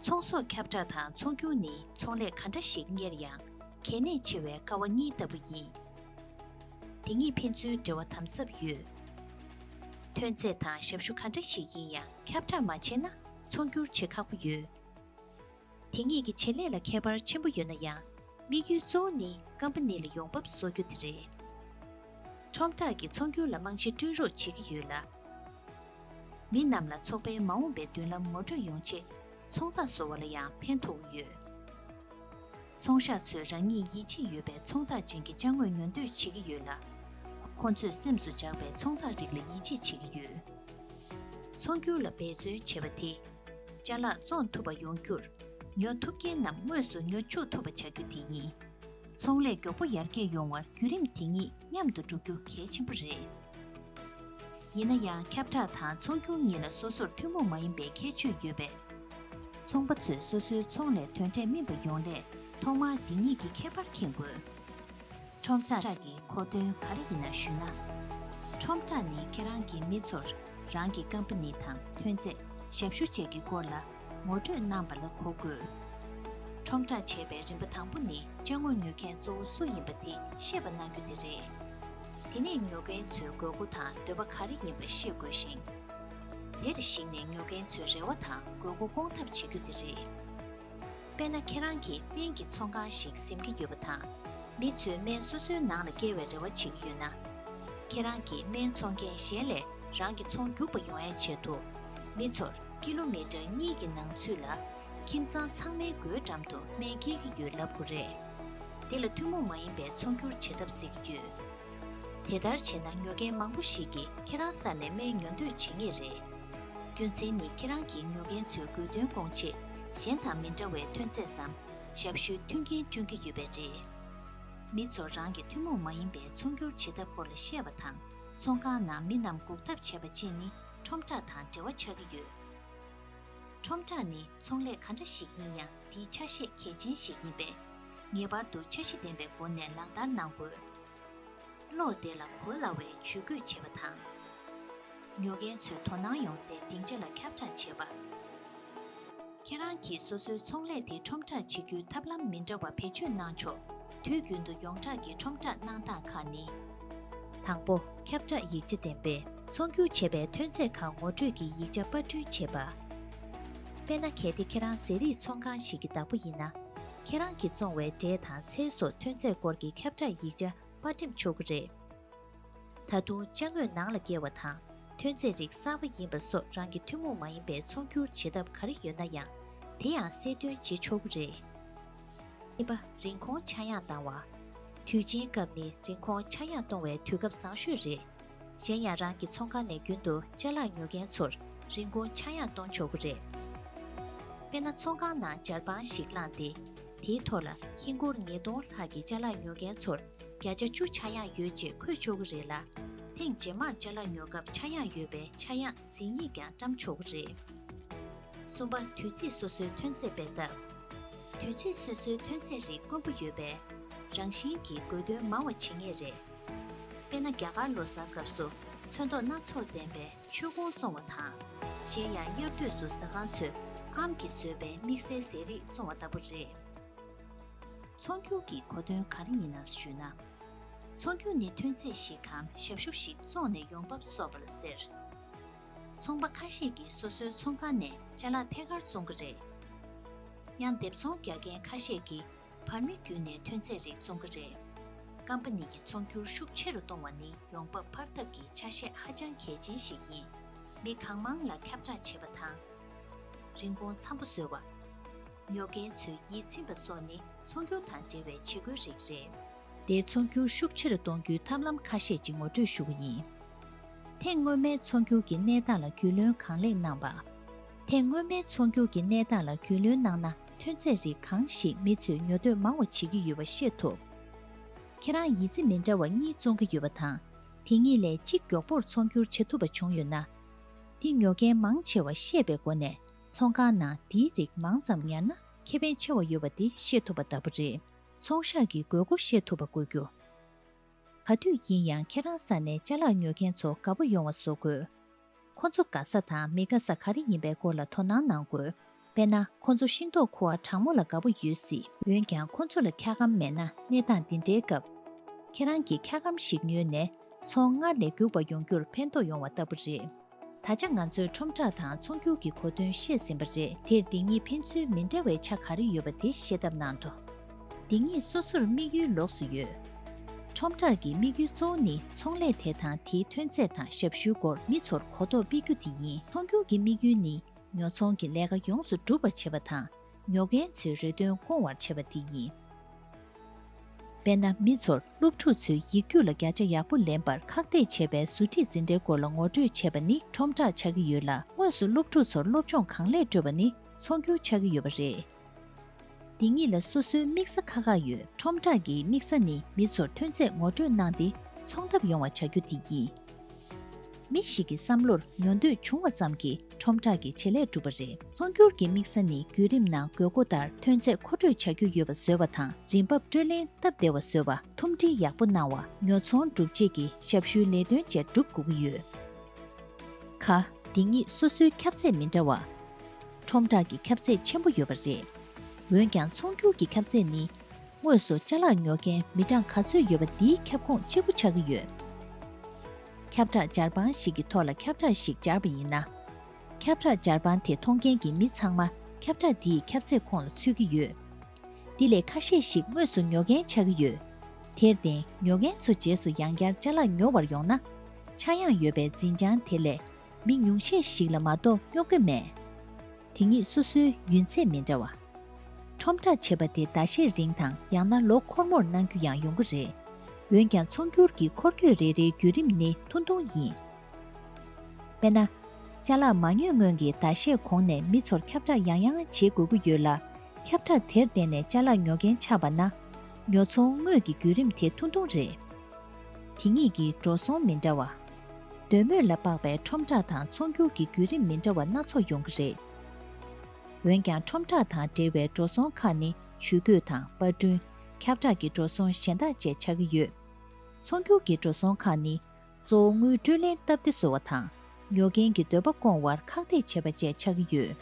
ཚོང་ཟོག་ཁྱབ་བསྒྲགས་དང་ཚོང་བསྒྱུར་ནི་ཚོང་ལས་ག་འདྲ་ཞིག་གཉེར་ཡང་གལ་གནད་ཆེ་བའི་ཀ་བ་གཉིས་ལྟ་བུ་ཡིན། དེ་གཉིས་ཕན་ཚུན་འབྲེལ་བ་དམ་ཟབ་ཡོད། ཐོན་རྫས་དང་ཞབས་ཞུ་ག་འདྲ་ཞིག་ཡིན་ཡང་ཁྱབ་བསྒྲགས་མ་བྱས་ན་ཚོང་བསྒྱུར་བྱེད་ཁག་པོ་ཡོད། དེ་གཉིས་ཀྱི་བྱེད་ལས་ལ་ཁྱད་པར་ཆེན་པོ་ཡོད་ན་ཡང། དམིགས་ཡུལ་གཙོ་བོ་ནི་ཀམ་པ་ནི་ལ་ཡོང་འབབ་བཟོ་རྒྱུ་དེ་རེད། ཁྲོམ་བསྒྲགས་ཀྱིས་ཚོང་སྒྱུར་ལ་རྨང་གཞི་བསྐྲུན་རོགས་བྱེད་ཀྱི་ཡོད་ལ། མི་རྣམས་ལ་ཚོགས་པའི་མ་འོངས་པའི་མདུན་ལམ་ངོ་སྤྲོད་ཡོང་ཆེད་ཚོང་རྟགས་བཟོ་བ་ལ་ཡང་ཕན་ཐོགས་ཀྱི་ཡོད། ཚོང་ཤག་ཚོས་རང་ཉིད་ཡིད་ཆེས་ཡོད་པའི་ཚོང་རྟགས་ཅན་གྱི་བཅའ་དངོས་ཉོ་འདོད་བྱེད་ཀྱི་ཡོད་ལ། ཁོ་ཚོས་སེམས་སུ་འཇགས་པའི་ཚོང་རྟགས་རིགས་ལ་ཡིད་ཆེས་བྱེད་ཀྱི་ཡོད། ཚོང་སྒྱུར་ལ་འབད་བརྩོན་བྱེད་པ་དེ་བཅའ་ལག་བཙོང་ཐུབ་པ་ཡོང་རྒྱུར། ཉོ་ཐུབ་མཁན་རྣམས་དངོས་སུ་ཉོ་འཇུག་ཐུབ་པ་བྱ་རྒྱུ་དེ་ཡིན། ཚོང་ལས་མགྱོགས་པོ་ཡར་རྒྱས་ཡོང་བར་བརྒྱུད་རིམ་དེ་གཉིས་མཉམ་དུ་བསྒྲུབ་རྒྱུ་གལ་ཆེན་པོ་རེད། ཡིན་ན་ཡང་ཁྱབ་བསྒྲགས་དང་ཚོང་སྒྱུར་གཉིས་ལ་སོ་སོར་ཐུན་མོང་མ་ཡིན་པའི་ཁྱད་ཆོས་ཡོད་པས། ཚོང་པ་ཚོས་སོ་སོའི་ཚོང་ལས་དོན་འབྲས་སྨིན་པ་ཡོང་སླད་ཐོག་མར་འདི་གཉིས་ཀྱི་ཁྱད་པར་མཁྱེན་དགོས། ཁྲོམ་བསྒྲགས་ཀྱི་གོ་དོན་ག་རེ་ཡིན་ན་ཞུས་ན། ཁྲོམ་བསྒྲགས་ནི་ཁྱེད་རང་གིས་མི་ཚོར་རང་གི་ཀམ་པ་ནི་དང་ཐོན་རྫས་ཞབས་ཞུ་བཅས་ཀྱི་སྐོར་ལ་ངོ་སྤྲོད་གནང་པ་ལ་གོ་དགོས། ཁྲོམ་བསྒྲགས་བྱེད་པའི་རིམ་པ་དང་པོ་ནི་དཔྱ་དངོས་ཉོ་མཁན་གཙོ་བོ་སུ་ཡིན་པ་དེ་ཤེས་པ་གནང་རྒྱུ་དེ་རེད། དེ་ནས་ཉོ་མཁན་ཚོའི་དགོས་མཁོ་དང་འདོད་པ་ག་རེ་ཡིན་པ་ཤེས་དགོས་ཤིང། དེར་གཞིགས་ནས་ཉོ་མཁན་ཚོའི་རེ་བ་དང་དགོས་མཁོ་སྐོང་ཐབས་བྱེད་རྒྱུ་དེ་རེད། དཔེར་ན་ཁྱེད་རང་གིས་སྨན་གྱི་ཚོང་ཁང་ཞིག་གཟིམ་གྱི་ཡོད་པ་དང། མི་ཚོས་སྨན་སོ་སོའི་ནང་ལ་བཀལ་བའི་རེ་བ་བྱེད་ཀྱི་ཡོད་ན། ཁྱེད་རང་གིས་སྨན་འཚོང་མཁན་གཞན་ལས་རང་གི་ཚོང་རྒྱུག་པ་ཡོང་ཡ་བྱེད་དོ། མི་ཚོར་ཀི་ལོ་མི་ཀྲར་གཉིས་ཀྱི་ནང་ཚུད་ལ། ཁྱིམ་ཚང་ཚང་མའི་སྒོའི་འགྲམ་དུ་སྨན་སྐྱེལ་གྱི་ཡོད་ལབ་དགོས་རེད། འདི་ལ་ཐུན་མོང་མ་ཡིན་པའི་ཚོང་སྒྱུར་བྱེད་ཐབས་ཟེར་གྱི་ཡོད། དེ་ལྟར་བྱས་ན་ཉོ་མཁན་མང་པོ་ཞིག་གིས་ཁྱེད་རང་ས་ནས་སྨན་ཉོ་འདོད་བྱེད་ངེས་རེད། རྒྱུ་མཚན་ནི་ཁྱེད་རང་གིས་ཉོ་མཁན་ཚོའི་དགོས་འདུན་སྐོང་ཆེད་གཞན་དང་མི་འདྲ་བའི་ཐོན་རྫས་སམ་ཞབས་ཞུའི་མཐུན་རྐྱེན་སྤྱོད་ཀྱི་ཡོད་པས་རེད། མི་ཚོར་རང་གི་ཐུན་མོང་མ་ཡིན་པའི་ཚོང་སྒྱུར་བྱེད་ཐབས་སྐོར་ལ་བཤད་པ་དང་ཚོང་ཁང་ནང་མི་རྣམས་འགུག་ཐབས་བྱེད་པ་བཅས་ནི་ཁྲོམ་བསྒྲགས་དང་འབྲེལ་བ་ཆགས་ཀྱི་ཡོད། ཁྲོམ་བསྒྲགས་ནི་ཚོང་ལས་ག་འདྲ་ཞིག་ཡིན་ཡང་དེའི་ཆ་ཤས་གལ་ཆེན་ཞིག་ཡིན་པས། ངེས་པར་དུ་འཆར་གཞི་ལྡན་པའི་སྒོ་ནས་ལག་བསྟར་གནང་དགོས། གློག་དེ་ལ་གོ་སླ་བའི་ཇུས་འགོད་བྱེད་པ་དང། ཉོ་མཁན་ཚོས་དོ་སྣང་ཡོང་སའི་སྡིངས་ཆ་ལ་ཁྱབ་བསྒྲགས་བྱེད་པ། ཁྱེད་རང་གིས་སོ་སོའི་ཚོང་ལས་དེ་ཁྲོམ་བསྒྲགས་བྱེད་རྒྱུའི་ཐབས་ལམ་མི་འདྲ་བ་བེད་སྤྱོད་གནང་ཆོག་དུས་རྒྱུན་དུ་ཡོངས་གྲགས་ཀྱི་ཁྲོམ་བསྒྲགས་གནང་སྟངས་ཁག་ནི། དང་པོ། ཁྱབ་བསྒྲགས་ཡིག་ཆ་འགྲེམས་སྤེལ་ཚོང་སྒྱུར་བྱེད་པའི་ཐོན་རྫས་ཁག་ངོ་སྤྲོད་ཀྱི་ཡིག་ཆ་དཔར་སྐྲུན་བྱེད་པ། དཔེར་ན་གལ་ཏེ་ཁྱེད་རང་ཟས་རིགས་ཚོང་ཁང་ཞིག་གི་བདག་པོ་ཡིན་ན། ཁྱེད་རང་གིས་བཙོང་བའི་འབྲས་དང་ཚལ་སོགས་ཐོན་རྫས་སྐོར་གྱི་ཁྱབ་བསྒྲགས་ཡིག་ཆ་པར་འགྲེམས་ཆོག་གི་རེད། ད་དུང་དཔྱ་དངོས་ནང་ལ་བཀལ་བ་དང་ཐོན་རྫས་རིགས་གསར་པ་ཡིན་པ་སོགས་རང་གི་ཐུན་མོང་མ་ཡིན་པའི་ཚོང་སྒྱུར་བྱེད་ཐབས་ག་རེ་ཡོད་ན་ཡང་དེ་ཡང་གསལ་སྟོན་བྱེད་ཆོག་གི་རེད། གཉིས་པ། རིན་གོང་ཆག་ཡང་བཏང་བ། དུས་ཆེན་སྐབས་ནི་རིན་གོང་ཆག་ཡང་གཏོང་བའི་དུས་སྐབས་བཟང་ཤོས་རེད། གཞན་ཡང་རང་གི་ཚོང་ཁང་ནས་རྒྱུན་དུ་ལྕེ་ལག་ཉོ་མཁན་ཚོར་རིན་གོང་ཆག་ཡང་གཏོང་ཆོག་གི་རེད། དཔེར་ན་ཚོང་ཁང་ནང་སྦྱར་པང་ཞིག་བླངས་ཏེ། དེའི་ཐོག་ལ་ཧིན་སྒོར་ཉིས་སྟོང་ལྷག་གི་ལྕེ་ལག་ཉོ་མཁན་ཚོར་བརྒྱ་ཆ་བཅུ་ཆག་ཡང་ཡོད་ཅེས་འཁོད་ཆོག་གི་རེད་ལ། ཐེངས་རྗེས་མར་ལྕེ་ལག་ཉོ་སྐབས་ཆག་ཡང་ཡོད་པའི་ཆག་ཡང་འཛིན་ཡིག་ཀྱང་བཀྲམ་ཆོག་གི་རེད། གསུམ་པ། དུས་ཚིགས་སོ་སོའི་ཐོན་རྫས་སྤེལ་ཐབས། དུས་ཚིགས་སོ་སོའི་ཐོན་རྫས་རིགས་དཀོན་པོ་ཡོད་པས། རང་བཞིན་གྱིས་དགོས་དོན་མང་བ་བྱེད་ངེས་རེད། དཔེར་ན་རྒྱ་གར་ལོ་གསར་སྐབས་སུ་ཚོན་མདོག་སྣ་ཚོགས་ལྡན་པའི་མཆོད་ཁུང་བཙོང་བ་དང། གཞན་ཡང་དབྱར་དུས་སུ་ཟ་ཁང་ཚོས་ཨམ་གྱིས་བཟོས་པའི་དམིགས་བསལ་ཟས་རིགས་བཙོང་བ་ལྟ་བུ་རེད། ཚོང་སྒྱུར་གྱི་གོ་དོན་ག་རེ་ཡིན་ནམ་ཞུས་ན། ཚོང་སྒྱུར་ནི་ཐོན་རྫས་ཤིག་གམ་ཞབས་ཞུ་ཞིག་བཙོང་ནས་ཡོང་འབབ་གསོག་པ་ལ་ཟེར། ཚོང་པ་ཁ་ཤས་ཀྱིས་སོ་སོའི་ཚོང་ཁང་ནས་བཅའ་ལག་ཐད་ཀར་བཙོང་གི་རེད། ཡང་འདེབས་ཚོང་རྒྱག་མཁན་ཁ་ཤས་ཀྱིས་བར་མི་བརྒྱུད་ནས་ཐོན་ཚད་རིགས་བཙོང་གི་རེད། སྐམ་པ་ནས་ཀྱི་ཚོང་སྒྱུར་ཤུགས་ཆེ་རུ་གཏོང་བ་ནི་ཡོང་འབབ་འཕར་ཐབས་ཀྱི་ཆ་ཤས་ཧ་ཅང་གལ་ཆེན་ཞིག་ཡིན། མི་གང་མང་ལ་ཁྱབ་བསྒྲགས་བྱེད་པ་དང། རིན་གོང་འཚམ་པོ་བཟོ་བ། ཉོ་མཁན་ཚོས་ཡིད་ཚིམ་པ་སོགས་ནི་ཚོང་སྒྱུར་དང་འབྲེལ་བའི་བྱེད་སྒོའི་རིགས་རེད། དེས་ཚོང་སྒྱུར་ཤུགས་ཆེ་རུ་གཏོང་རྒྱུའི་ཐབས་ལམ་ཁ་ཤས་ཅིག་ངོ་སྤྲོད་ཞུ་བ་ཡིན། ཐེངས་སྔོན་མའི་ཚོང་སྒྱུར་གྱི་གནས་སྟངས་ལ་རྒྱུས་ལོན་གང་ལེགས་གནང་བ། ཐེངས་སྔོན་མའི་ཚོང་སྒྱུར་གྱི་གནས་སྟངས་ལ་རྒྱུས་ལོན་གནང་ན། ཐོན་རྫས་རིགས་གང་ཞིག་མི་ཚོས་ཉོ་འདོད་མང་བ་བྱེད་ཀྱི་ཡོད་པ་ཤེས་ཐུབ། ཁྱེད་རང་ཡིད་རྩེ་མི་འདྲ་བ་གཉིས་བཙོང་གི་ཡོད་པ་དང། དེ་གཉིས་ལས་གཅིག་མགྱོགས་པོར་ཚོང་སྒྱུར་བྱེད་ཐུབ་པ་བྱུང་ཡོད་ན། དེ་ཉོ་མཁན་མང་ཆེ་བ་ཤེས་པའི་སྒོ་ནས་ཚོང་ཁང་ནང་དེའི་རིགས་མང་ཙམ་ཉར་ན་ཁེ་ཕན་ཆེ་བ་ཡོད་པ་དེ་ཤེས་ཐུབ་པ་ལྟ་བུ་རེད། ཚོང་ཤག་གི་དགོས་མཁོ་ཤེས་ཐུབ་པ་དགོས་རྒྱུ། ག་དུས་ཡིན་ཡང་ཁྱེད་རང་ས་ནས་བཅའ་ལག་ཉོ་མཁན་ཚོ་དགའ་པོ་ཡོང་བ་བཟོ་དགོས། ཁོ་ཚོ་དགའ་ས་དང་མི་དགའ་ས་ག་རེ་ཡིན་པའི་སྐོར་ལ་དོ་སྣང་གནང་དགོས། དཔེར་ན་ཁོ་ཚོ་ཤིང་ཏོག་ཁུ་བ་གྲང་མོ་ལ་དགའ་པོ་ཡོད་སྲིད། འོན་ཀྱང་ཁོ་ཚོ་ལ་འཁྱགས་སྒམ་མེད་ན་གནས་སྟངས་འདི་འདྲའི་སྐབས། ཁྱེད་རང་གིས་འཁྱགས་སྒམ་ཞིག་ཉོས་ནས། ཚོང་སྔར་ལས་རྒྱུག་པ་ཡོང་རྒྱུར་ཕན་ཐོགས་ཡོང་བ་ལྟ་བུ་རེད། ད་ཆ་ང་ཚོས་ཁྲོམ་བསྒྲགས་དང་ཚོང་རྒྱུག་གི་གོ་དོན་ཤེས་ཟིན་པ་རེད་དེར་འདི་གཉིས་ཕན་ཚུན་མི་འདྲ་བའི་ཆ་ག་རེ་ཡོད་པ་དེ་ཤེས་ཐབས་གནང་དོ། འདི་གཉིས་སོ་སོར་དམིགས་ཡུལ་ལོགས་སུ་ཡོད། ཁྲོམ་བསྒྲགས་ཀྱི་དམིགས་ཡུལ་གཙོ་བོ་ནི་ཚོང་ལས་དེ་དང་དེའི་ཐོན་རྫས་དང་ཞབས་ཞུའི་སྐོར་མི་ཚོར་གོ་རྟོགས་སྤེལ་རྒྱུ་དེ་ཡིན། ཚོང་སྒྱུར་གྱི་དམིགས་ཡུལ་ནི་ཉོ་ཚོང་གི་ལས་ཀ་ཡོངས་སུ་འགྲུབ་པར་བྱེད་པ་དང་ཉོ་མཁན་ཚོའི་རེ་འདུན་སྐོང་བར་བྱེད་པ་དེ་ཡིན། དཔེར་ན་མི་ཚོར་སློབ་ཕྲུག་ཚོའི་ཡིག་རྒྱུགས་ལ་བརྒྱ་ཆ་ཡག་པོ་ལེན་པར་ཁག་ཐེག་བྱེད་པའི་ཟུར་ཁྲིད་འཛིན་གྲྭའི་སྐོར་ལ་ངོ་སྤྲོད་བྱེད་པ་ནི་ཁྲོམ་བསྒྲགས་ཆགས་ཀྱི་ཡོད་ལ་དངོས་སུ་སློབ་ཕྲུག་ཚོར་སློབ་སྦྱོང་གང་ལེགས་སྤྲོད་པ་ནི་ཚོང་སྒྱུར་ཆགས་ཀྱི་ཡོད་པ་རེད། འདི་གཉིས་ལ་སོ་སོའི་དམིགས་ས་ཁག་ཁག་ཡོད་ཁྲོམ་བསྒྲགས་ཀྱི་དམིགས་ས་ནི་མི་ཚོར་ཐོན་རྫས་ངོ་སྤྲོད་གནང་སྟེ་ཚོང་ཐབས་ཡོང་བ་བྱ་རྒྱུ་དེ་ཡིན། མི་ཞིག་གི་བསམ་བློར་ཉོ་འདོད་བྱུང་བ་ཙམ་གྱིས་ཁྲོམ་བསྒྲགས་ཀྱི་བྱེད་ལས་སྒྲུབ་པ་རེད། ཚོང་སྒྱུར་གྱི་དམིགས་ས་ནི་བརྒྱུད་རིམ་ནང་དགོས་མཁོ་ལྟར་ཐོན་རྫས་མཁོ་སྤྲོད་བྱ་རྒྱུ་ཡོད་པ་བཟོས་བ་དང་རིན་འབབ་སྤྲོད་ལེན་སྟབས་བདེ་བ་བཟོས་བ་ཐུམ་སྒྲིལ་ཡག་པོ་གནང་བ་ཉོ་ཚོང་སྒྲུབ་བྱེད་ཀྱི་ཞབས་ཞུའི་ལས་དོན་བཅས་སྒྲུབ་དགོས་ཀྱི་ཡོད། ཁ། འདི་གཉིས་སོ་སོའི་ཁྱབ་ཚད་མི་འདྲ་བ། ཁྲོམ་བསྒྲགས་ཀྱི་ཁྱབ་ཚད་ཆེན་པོ་ཡོད་པ་རེད། འོན་ཀྱང་ཚོང་སྒྱུར་གྱི་ཁྱབ་ཚད་ནི། དངོས་སུ་བཅའ་ལག་ཉོ་མཁན་མི་གྲངས་ག་ཚོད་ཡོད་པ་འདིའི་ཁྱབ་ཁོངས་གཅིག་པུ་ཆགས་ཀྱི་ཡོད། ཁྱབ་བསྒྲགས་སྦྱར་པང་ཞིག་གི་ཐོག་ལ་ཁྱབ་བསྒྲགས་ཤིག་སྦྱར་བ་ཡིན་ན། ཁྱབ་བསྒྲགས་སྦྱར་པང་དེ་མཐོང་མཁན་གྱི་མི་ཚང་མ་ཁྱབ་བསྒྲགས་འདིའི་ཁྱབ་ཚད་ཁོངས་ལ་ཚུད་ཀྱི་ཡོད། འདི་ལས་ཁ་ཤས་ཤིག་དངོས་སུ་ཉོ་མཁན་ཆགས་ཀྱི་ཡོད། དེར་བརྟེན་ཉོ་མཁན་ཚོ་རྗེས་སུ་ཡང་བསྐྱར་བཅའ་ལག་ཉོ་བར་ཡོང་ན། ཆག་ཡང་ཡོད་པའི་འཛིན་བྱང་དེ་ལས། མི་ཉུང་ཤས་ཤིག་ལ་མ་གཏོགས་རྙོག་དྲ་མེད། དེ་གཉིས་སོ་སོའི་ཡུན་ཚད་མི་འདྲ་བ། ཁྲོམ་བསྒྲགས་བྱེད་པ་དེ་ཟླ་ཤས་རིང་དང་ཡང་ན་ལོ་འཁོར་མོར་གནང་རྒྱུ་ཡང་ཡོང་གི་རེད། འོན་ཀྱང་ཚོང་སྒྱུར་གྱི་འཁོར་སྐྱོད་རེ་རེའི་བརྒྱུད་རིམ་ནི་ཐུང་ཐུང་ཡིན། དཔེར་ན། བཅའ་ལག་མ་ཉོས་སྔོན་གྱི་ཟླ་ཤས་གོང་ནས་མི་ཚོར་ཁྱབ་བསྒྲགས་ཡང་ཡང་བྱེད་དགོས་ཀྱི་ཡོད་ལ། ཁྱབ་བསྒྲགས་དེར་བརྟེན་ནས་བཅའ་ལག་ཉོ་མཁན་ཆགས་པ་ན། ཉོ་ཚོང་དངོས་ཀྱི་བརྒྱུད་རིམ་དེ་ཐུང་ཐུང་རེད། དེ་གཉིས་ཀྱི་འགྲོ་སོང་མི་འདྲ་བ། འདོད་མོས་ལ་དཔག་པའི་ཁྲོམ་བསྒྲགས་དང་ཚོང་སྒྱུར་གྱི་བརྒྱུད་རིམ་མི་འདྲ་བ་སྣ་ཚོགས་ཡོང་གི་རེད། འོན་ཀྱང་ཁྲོམ་བསྒྲགས་དང་འབྲེལ་བའི་འགྲོ་སོང་ཁག་ནི་ཇུས་འགོད་དང་པར་སྐྲུན། ཁྱབ་བསྒྲགས་ཀྱི་འགྲོ་སོང་གཞན་དག་བཅས་ཆགས་ཀྱི་ཡོད། ཚོང་སྒྱུར་གྱི་འགྲོ་སོང་ཁག་ནི། གཙོ་བོ་དངུལ་སྤྲོད་ལེན་སྟབས་བདེ་བཟོ་བ་དང། ཉོ་མཁན་གྱི་འདོད་པ་སྐོང་བར་ཁག་ཐེག་བྱེད་པ་བཅས་ཆགས་ཀྱི་ཡོད།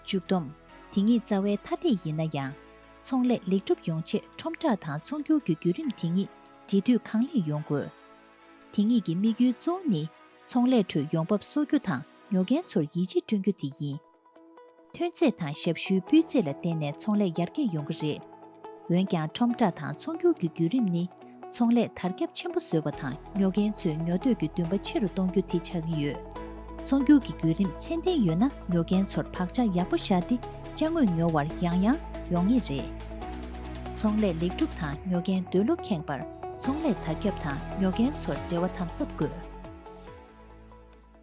མཇུག་བསྡོམས། དེ་ཉིད་རྩ་བའི་མཐའ་འདེད་ཡིན་ན་ཡང། ཚོང་ལས་ལེགས་འགྲུབ་ཡོང་ཆེད་ཁྲོམ་བསྒྲགས་དང་ཚོང་སྒྱུར་གྱི་བརྒྱུད་རིམ་དེ་ཉིད་འབྲེལ་མཐུད་གང་ལེགས་ཡོང་དགོས། དེ་གཉིས་ཀྱི་དམིགས་ཡུལ་གཙོ་བོ་ནི་ཚོང་ལས་ཁྲོད་ཡོང་འབབ་གསོག་རྒྱུ་དང་ཉོ་མཁན་ཚོར་ཡིད་ཆེས་བསྐྲུན་རྒྱུ་དེ་ཡིན། ཐོན་རྫས་དང་ཞབས་ཞུའི་སྤུས་ཚད་ལ་བརྟེན་ནས་ཚོང་ལས་ཡར་རྒྱས་ཡོང་གི་རེད། འོན་ཀྱང་ཁྲོམ་བསྒྲགས་དང་ཚོང་སྒྱུར་གྱི་བརྒྱུད་རིམ་ནི་ཚོང་ལས་དར་ཁྱབ་ཆེན་པོ་བཟོས་པ་དང་ཉོ་མཁན་ཚོའི་ཉོ་འདོད་ཀྱི་འདུན་པ་ཆེ་རུ་གཏོང་རྒྱུ་དེ་ཆགས་ཀྱི་ཡོད། ཚོང་སྒྱུར་གྱི་བརྒྱུད་རིམ་ཚད་ལྡན་ཡོད་ན་ཉོ་མཁན་ཚོར་བག་ཆགས་ཡག་པོ་བཞག་སྟེ་དཔྱ་དངོས་ཉོ་བར་ཡང་ཡང་ཡོང་ངེས་རེད། ཚོང་ལས་ལེགས་གྲུབ་དང་ཉོ་མཁན་འདོད་བློ་ཁེངས་པར་ཚོང་ལས་དར་ཁྱབ་དང་ཉོ་མཁན་ཚོར་འབྲེལ་བ་དམ་ཟབ་དགོས།